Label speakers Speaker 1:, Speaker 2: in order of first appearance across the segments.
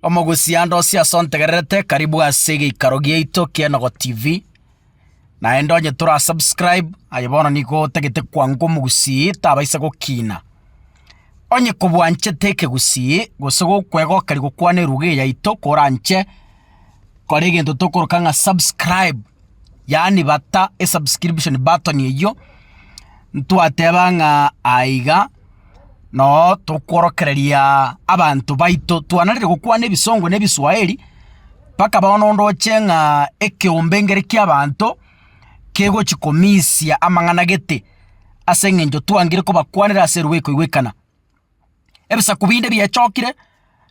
Speaker 1: Omogusiande o siasa ontegererete, karibu ase egeikaro giaito ki'Enogo TV. Naende onye tora subscribe, aye bono nigo otagete kwango omogusii tabaisa gokina. Onye kobwanchete ekegusii gose gokwegokari gokwana eruga eyaito koranche kore egento tokoroka ng'a subscribe. yaani bata esubscription button eyio, ntwateba ng'a aiga noo tokworokereria abanto baito twanarire gokwana ebisongo na ebiswahili, mpaka bono ndoche ng'a ekeombe nkere kiabanto kegochi komisia amang'ana gete ase eng'encho twangire kobakwanera ase eruba ekoigwekana. Ebisaku binde biechokire,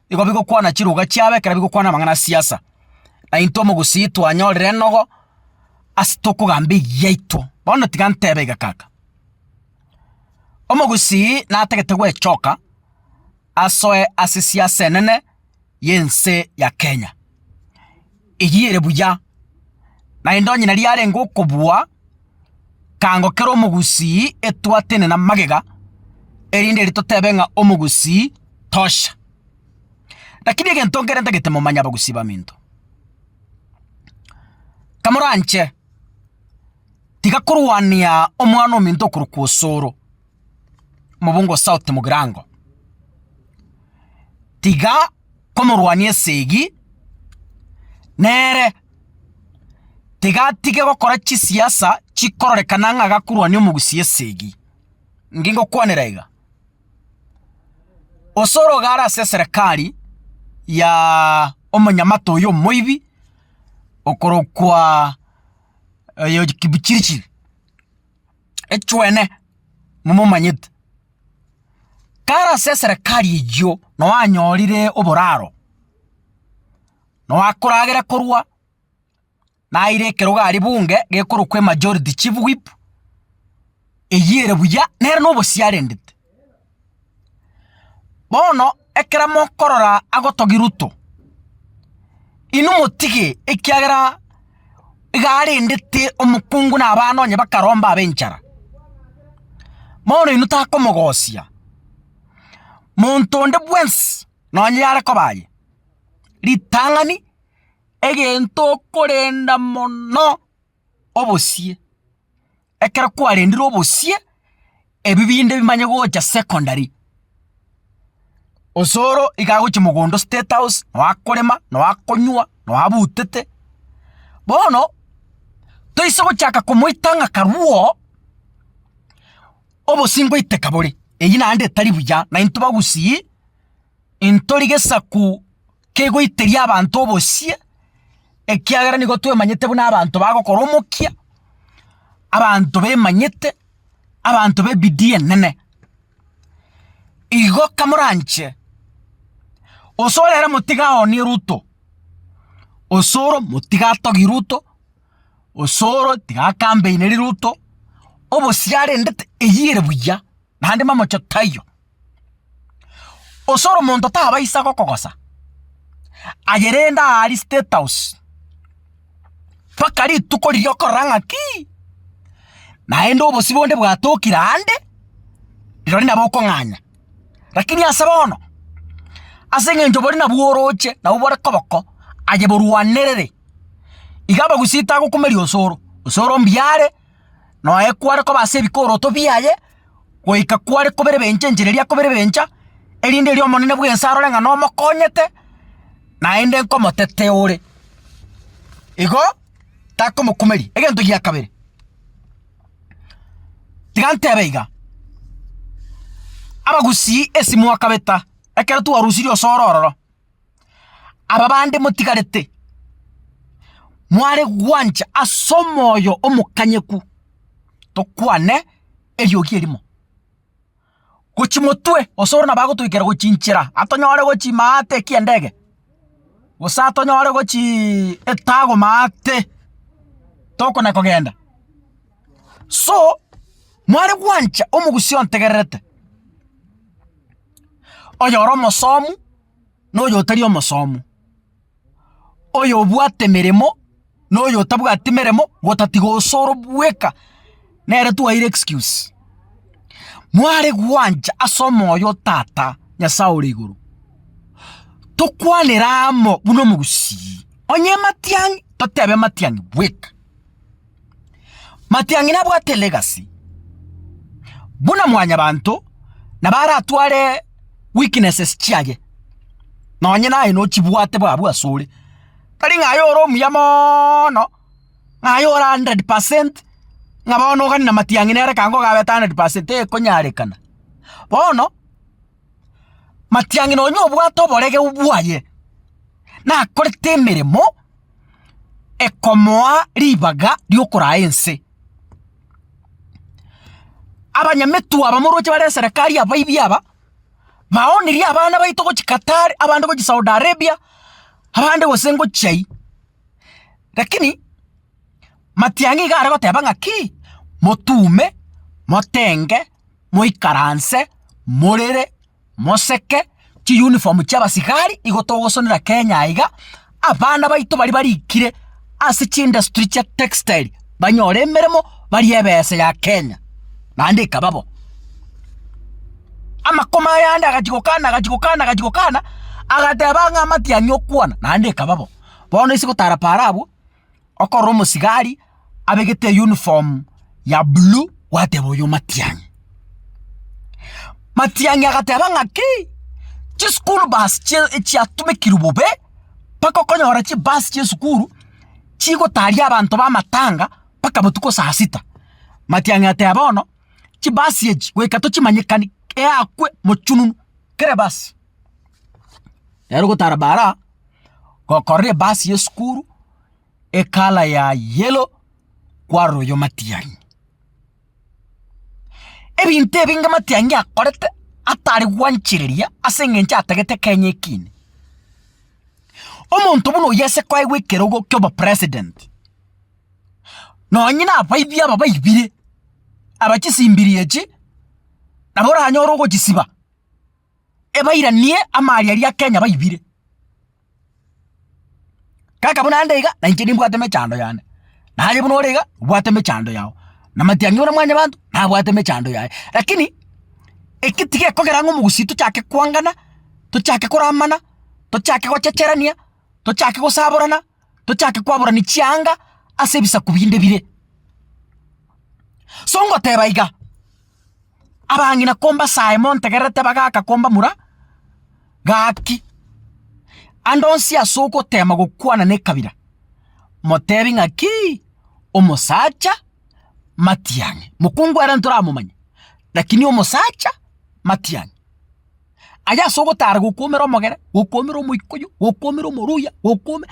Speaker 1: nigo bigokwana chiruga chiabo ekero bigokwana amang'ana a siasa. Na intwe omogusii twanyorire enogo ase tokogamba eyiaito. Bono tiga ntebe iga kaka, omogusii natagete gwechoka asoe ase siasa enene. y'ense ya Kenya. Eyio ere buya, naende onye nari arenge okobua, kaango kere omogusii etwatene na magega, erinde erio totebe ng'a omogusii tosha. Rakini egento nkere ntagete momanye abagusii baminto, kamoranche tiga korwania omwana ominto okorokwa osoro. Mobungo South Mugirango. Tiga komorwania esegi nere tiga atige gokora chisiasa chikororekana ng'a agakorwania omogusi esegi. Inki ngokwanera iga? Gose ore iga ase eserekari ya omonyamate oyo omoibi okorokwa oyo Kipchirchir. echwene momomanyete. Kare ase eserekari eyio noo anyorire oboraro, noo akoragera korwa naira ekerogo aria bunge gekorokwa emajority chief whip, eyio ere buya nere nobosio arendete. Bono ekero mokorora agotogia Ruto, inwe motige ekiagera iga arendete omokungu na abana onye bakaromba abe enchara. Bono inwe takomogosia, monto onde bwensi nonye yare koba aye, ritang'ani egento okorenda mono. obosie, ekero kwarendire obosie, ebi binde bimanye gocha secondary. Osoro iga agochia mogondo o state house, noo akorema, noo akonywa, noo abutete. Bono, toise gochaka komoita ng'a karuo, obosie ngoiteka bore, eywo naende etari buya, naintwe bagusii, intori gesaku kegoiteria abanto obosie, ekiagera nigo twemanyete buna abanto bagokora omokia, abanto bemanyete, abanto b'ebidii enene. Igo kamoranche, gose ore ere motiga aoonie ruto, gose ore omotiga atogie ruto, gose ore tiga akambeine ruto, obosie arendete, eyio ere buya. naende mamocho taiyo. Osore omonto tabaisa gokogosa, aye rende aria state house mpaka rituko riria okorora ng'akii, naende obosio bonde bwatokire aande, rirorio nabo okong'anya. Rakini ase bono, ase eng'encho boria nabwo oroche nabo bore koboko, aye borwanerere, iga abagusii tagokumeria osoro, osoro mbuya are. Noe kware koba ase ebikoroto biaye, goika kware koberebencha enchera eria akoberebencha, erinde erio Omonene bw'ense arore ng'a nomokonyete, naende nkomotetea ore. Igo takomokumeria. Egento gia kabere, tiga ntebe iga, Abagusii esimo akabeta ekero twarusirie osoro ororo, Aba bande motigarete, mware gwancha as'omoyo omokanyeku tokwane eriogi erimo, gochimotwe gose ore nabo agotoikera gochinchera atonyore gochi maate eki'endege, gose atonyore gochii etago maate tokona kogenda. So mware gwancha omogusii ontegererete. oyore omosomu, na oyotari omosomu, oyobwate emeremo, na oyotabwati emeremo, gotatiga gose ore bweka, nere twaire excuse. Mware gwancha ase omoyo o tata Nyasaye ore igoro, tokwanere amo buna omogusii, onye matiang'i, totebe matiang'i bweka. Matiang'ina abwate legacy buna mwanyabanto na baratware weaknesses chiaye. Nonye naye nochibwate bwa abwo asore. Tari ng'a aye ore omuya moono, ng'a aye ore hundred percent, ng'a bono ogani na matiang'ina ere kaango gabete hundred percent, tekonyarekana. Bono. matiang'i nonye obwate oboregeu bwaye, nakorete emeremo ekomoa ribaga riokoraa ense. Abanyametu aba moroche bare eserekari abaibi aba, baoneria abana baito gochia Qatar, abande gochia Saudi Arabia, abande gose ngochia aywo. Rakini matiang'i iga are goteba ng'aki, motume, motenge. moikaranse, morere, moseke, chiuniform chiabasigari nigo togosonera Kenya aiga, abana baito baria barikire ase chiindustry chia textile banyore emeremo barie ebesa ya Kenya, naende ekaba bo. Amakoma aya ande agachi gokana agachi gokana agachi gokana, agateba ng'a amatiang'i okwana, naende ekaba bo. Bono ase gotara para abwo. okorora omosigari abegete eyuniform ya blue gwateba oyo matiang'i. Matiang'i agateba ng'aki, chischool bus chia chiatumekirwe bobe mpaka okonyora chibus chia esukuru chigotaria abanto b'amatanga mpaka botuko saa sita. Matiang'i agateba bono chibasi echi goika tochimanyekani eyakwe mochununu kera ebasi. Nere ogotara baraa. gokorora ebasi y'esukuru ecolour ya yellow kwarora oyo matiang'i. Ebinto ebinge matiang'i akorete atari gwanchereria ase eng'encho atagete kenya ekiine. Omonto buna oyio ase kwaigwa ekerogo ki'obopresident, nonye nabaibi aba baibire, aba chisimbiri echi nabo oranyore ogochisibaa. ebairanie amaaria aria Kenya baibire. Kaka buna ande iga nainche nimbwate mechando yane, naye buna ore iga obwate mechando yao, na matiang'i buna mwanyabanto nabwate mechando yaye. Rakini eki tigekogera ng'a omogusii tochake kwangana, tochake koramana, tochake gochecherania, tochake gosaborana. tochake kwaborani chianga ase ebisaku binde bire. So ngoteba iga, abang'ina kombasae montegererete bagaka kombamura, gaki ande onsi ase ogotema gokwana nekabira, motebi ng'akii, omosacha matiang'i. Mokungu ere ntoramomanye, lakini omosacha matiang'i. Aye ase ogotara gokuomera omogere, gokuomera omoikuyu, gokuomera omoruya, gokuome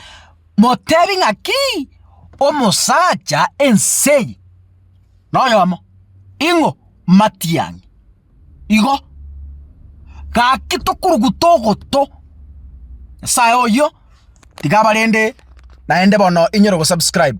Speaker 1: motebi ng'akii, omosacha ense eye noyomo, ing'o? Matiang'i. Igo, gaki tokoruguta ogoto, nyasaye oyio tiga abarende naende bono inyora ogosubscribe.